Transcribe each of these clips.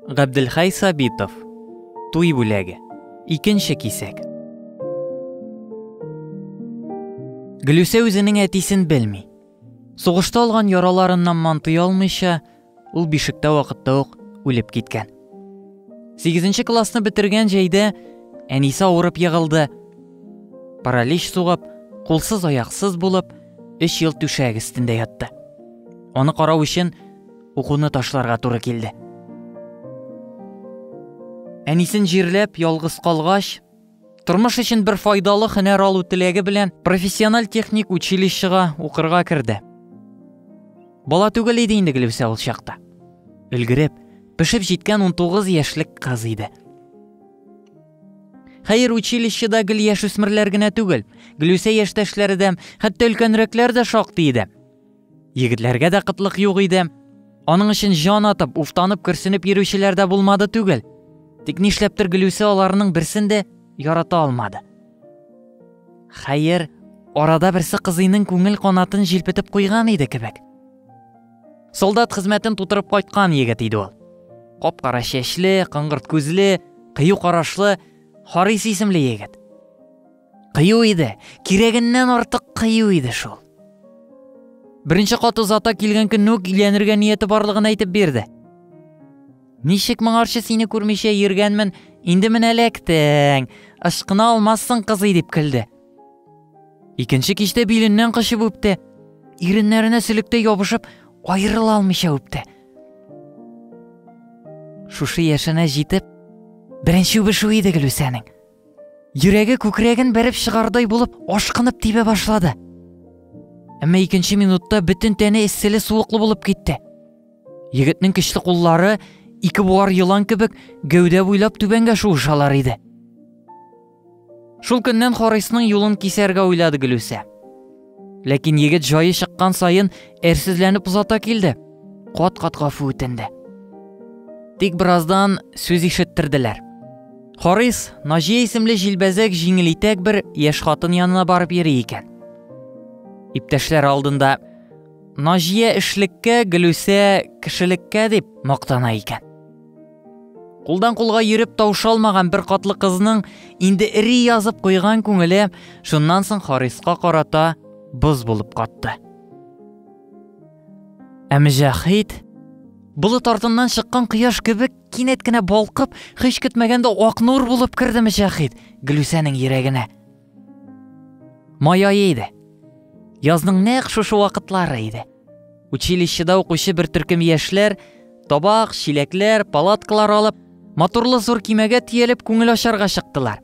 Габделхай Сабитов. Туй бүләге. Икенче кисәк. Гөлүсә үзенең әтисен белми. Сугышта алган яраларыннан мантый алмыйча, ул бишектә вакытта ук үлеп киткән. 8 классны бетергән җәйдә әнисе авырып егылды. Паралич сугып, кулсыз аяқсыз булып, 3 ел түшәк өстендә ятты. Аны карау өчен Укуны ташларга туры килде. Әнисен җирләп, ялгыз калгач, тормыш өчен бер файдалы хөнәр алу теләге белән профессиональ техник училищега укырга керде. Бала түгел иде инде Гөлүсә ул чакта. Өлгереп, пешеп җиткән 19 яшьлек кыз иде. Хәер, училищеда гел яшүсмерләр генә түгел, Гөлүсә яшьтәшләре дә, хәтта өлкәнрәкләр дә шактый иде. Егетләргә дә кытлык юк иде. Аның өчен җан атып, уфтанып, көрсенеп йөрүчеләр дә булмады түгел. Тик нишләптер Гөлүсе аларның берсен дә ярата алмады. Хәер, арада берсе кызыйның күңел канатын җилпетеп куйган иде кебек. Солдат хезмәтен тутырып кайткан егет иде ул. Кап-кара чәчле, кыңгырт күзле, кыю карашлы, Харис исемле егет. Кыю иде, кирәгеннән артык кыю иде шул. Беренче кат озата килгән көнне үк өйләнергә нияте барлыгын әйтеп бирде. Ничек моңарчы сине күрмичә йөргәнмен, инде менә эләктең. Ышкына алмассың, кызый, дип көлде. Икенче кичтә биленнән кочып үпте. Иреннәренә сөлеккә ябышып, аерыла алмыйча үпте. Шушы яшенә җитеп, беренче үбешү иде Гөлүсәнең. Йөрәге күкрәген бәреп чыгардай булып, ашкынып тибә башлады. Әмма икенче минутта бөтен тәне эсселе суыклы булып китте. Егетнең көчле куллары ике буар елан кебек гәүдә буйлап түбәнгә шуышалар иде. Шул көннән Харисның юлын кисәргә уйлады Гөлүсә. Ләкин егет җае чыккан саен әрсезләнеп озата килде. Кат-кат гафу үтенде. Тик бераздан сүз ишеттерделәр. Харис Наҗия исемле җилбәзәк җиңел итәк бер яшь хатын янына барып йөри икән. Иптәшләр алдында Наҗия эшлеккә, Гөлүсә кешелеккә дип мактана икән. Кулдан кулга йөреп таушалмаган бер катлы кызның инде эри язып куйган күңеле шуннан соң Хариска карата боз булып катты. Ә Мөҗәхид болыт артыннан чыккан кояш кебек кинәт кенә балкып, һич көтмәгәндә ак нур булып керде Мөҗәхид Гөлүсәнең йөрәгенә. Май айы иде. Язның нәкъ шушы вакытлары иде. Училищеда укучы бер төркем яшьләр, табак, чиләкләр, палаткалар алып, матурлы зур кимәгә тиелеп күңел ачарга чыктылар.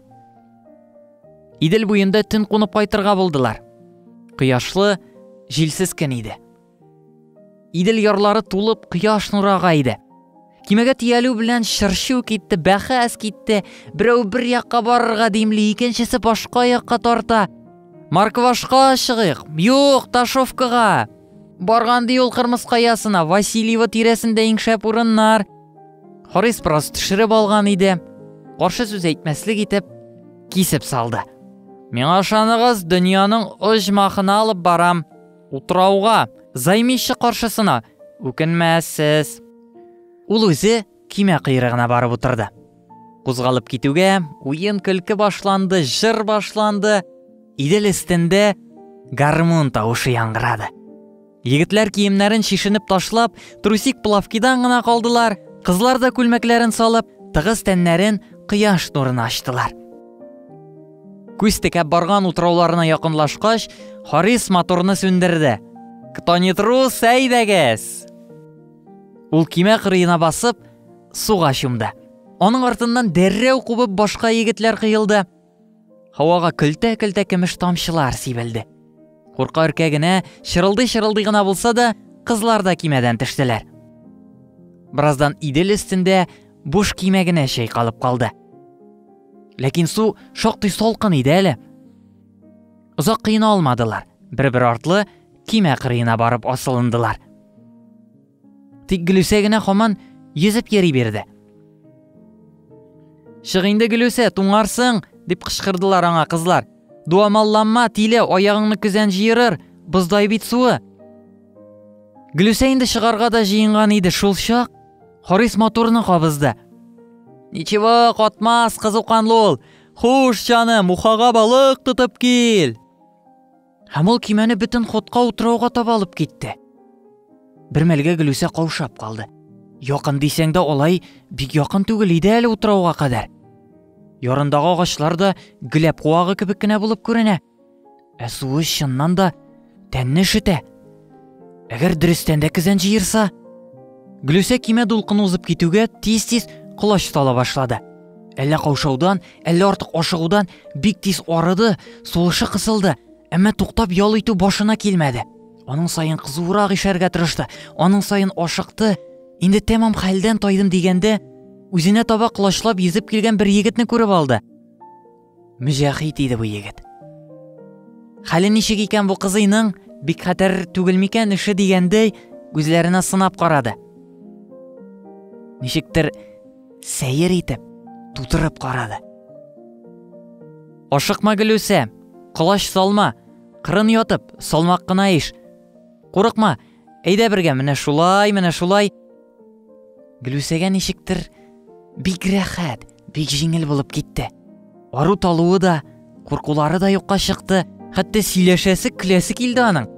Идел буенда төн кунып кайтырга булдылар. Кояшлы, җилсез көн иде. Идел ярлары тулып, кояш нурага иде. Кимәгә тиялү белән чырчу китте, бәхәс китте. Берәү бер якка барырга димли, икенчесе башка якка тарта. Марквашка чыгыйк. Юк, Ташовкага. Барган ди ул Кырмыс каясына, Васильева тирәсендә иң шәп урыннар. Харис бераз төшереп алган иде. Каршы сүз әйтмәслек итеп кисеп салды. Миңа ышаныгыз, дөньяның оҗмахына алып барам. Утрауга, займище каршысына, үкенмәссез. Ул үзе кимә кыйрыгына барып утырды. Кузгалып китүгә, уен көлке башланды, жыр башланды. Идел өстендә гармун тавышы яңгырады. Егетләр киемнәрен шишенеп ташлап, трусик плавкидан гына калдылар, кызлар да күлмәкләрен салып, тыгыз тәннәрен кояш нурына ачтылар. Күз текәп барган утрауларына якынлашкач, Харис моторны сүндерде. Кто не трус, әйдәгез! Ул кимә кырыена басып, суга чумды. Аның артыннан дәррәү кубып башка егетләр кыйылды. Һавага көлтә-көлтә көмеш тамчылар сибелде. Курка өркә генә, чырылдый-чырылдый гына булса да, кызлар да кимәдән төштеләр. Бераздан Идел өстендә буш кимә генә чайкалып калды. Ләкин су шактый салкын иде әле. Озак кыена алмадылар. Бер-бер артлы кимә кырыена барып асылындылар. Тик Гөлүсә генә хаман йөзеп йөри бирде. Чык инде Гөлүсә, туңарсың, дип кычкырдылар аңа кызлар. Дуамалланма, тиле, аягыңны көзән җыерыр, боздай бит суы. Гөлүсә инде чыгарга да җыенган иде шул чак, Харис моторны кабызды. Ничего, катмас, кызуканлы ул. Хуш, җаным, ухага балык тотып кил. Һәм ул кимәне бөтен ходка утрауга таба алып китте. Бер мәлгә Гөлүсә каушап калды. Якын дисәң дә алай бик якын түгел иде әле утрауга кадәр. Ярындагы агачлар да геләп куагы кебек кенә булып күренә. Ә суы чыннан да тәнне шетә. Әгәр дөрестән дә кизән җыерса, Глюсә кимә дулкын узып китүгә тиз-тиз колач сала башлады. Әллә каушаудан, әллә артык ашыгудан бик тиз арыды, сулышы кысылды, әмма туктап ял итү башына килмәде. Аның саен кызурак ишәргә тырышты, аның саен ашыкты. Инде тәмам хәлдән тайдым дигәндә, үзенә таба колачлап йөзеп килгән бер егетне күреп алды. Мөҗәхит иде бу егет. Хәле ничек икән бу кызыйның? Бик хәтәр түгел микән эше дигәндәй, күзләренә сынап карады. Ничектер сәер итеп, тутырып карады. Ашыкма гөлүсә, колач салма, кырын ятып, салмак кына иш. Курыкма, әйдә бергә, менә шулай, менә шулай. Гөлүсәгә ничектер бик рәхәт, Бик җиңел булып китте. Ару талуы да, куркулары да юкка чыкты, хәтта сөйләшәсе, көләсе килде аның.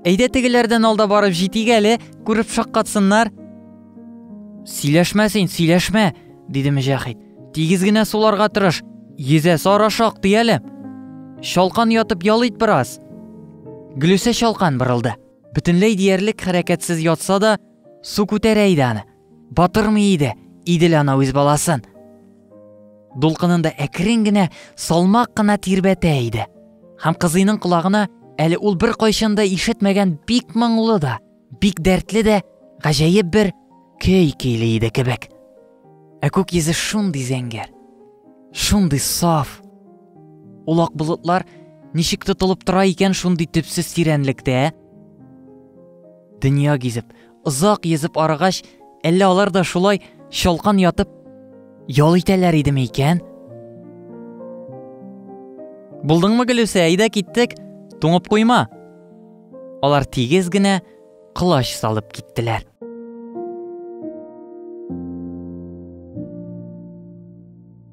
Әйдә тегеләрдән алда барып җитик әле, күреп шаккатсыннар. Сөйләшмә син, сөйләшмә, диде Мөҗәхид. Тигез генә суларга тырыш, йөзә сара шактый әле. Чалкан ятып ял ит бераз. Гөлүсә чалкан борылды. Бөтенләй диярлек хәрәкәтсез ятса да, су күтәрә иде аны. Батырмый иде, Идел ана үз баласын. Дулкынында әкрен генә, салмак кына тирбәтә иде. Һәм кызыйның колагына әле ул бер кайчан да ишетмәгән бик моңлы да, бик дәртле дә, гаҗәеп бер көй көйли иде кебек. Ә күк йөзе шундый зәңгәр, шундый саф. Ул ак болытлар ничек тотылып тора икән шундый төпсез тирәнлектә? Дөнья гизеп, Озак йөзеп арыгач, әллә алар да шулай чалкан ятып ял итәләр идеме икән? Булдыңмы, Гөлүсә, әйдә киттек, туңып куйма. Алар тигез генә кылач салып киттеләр.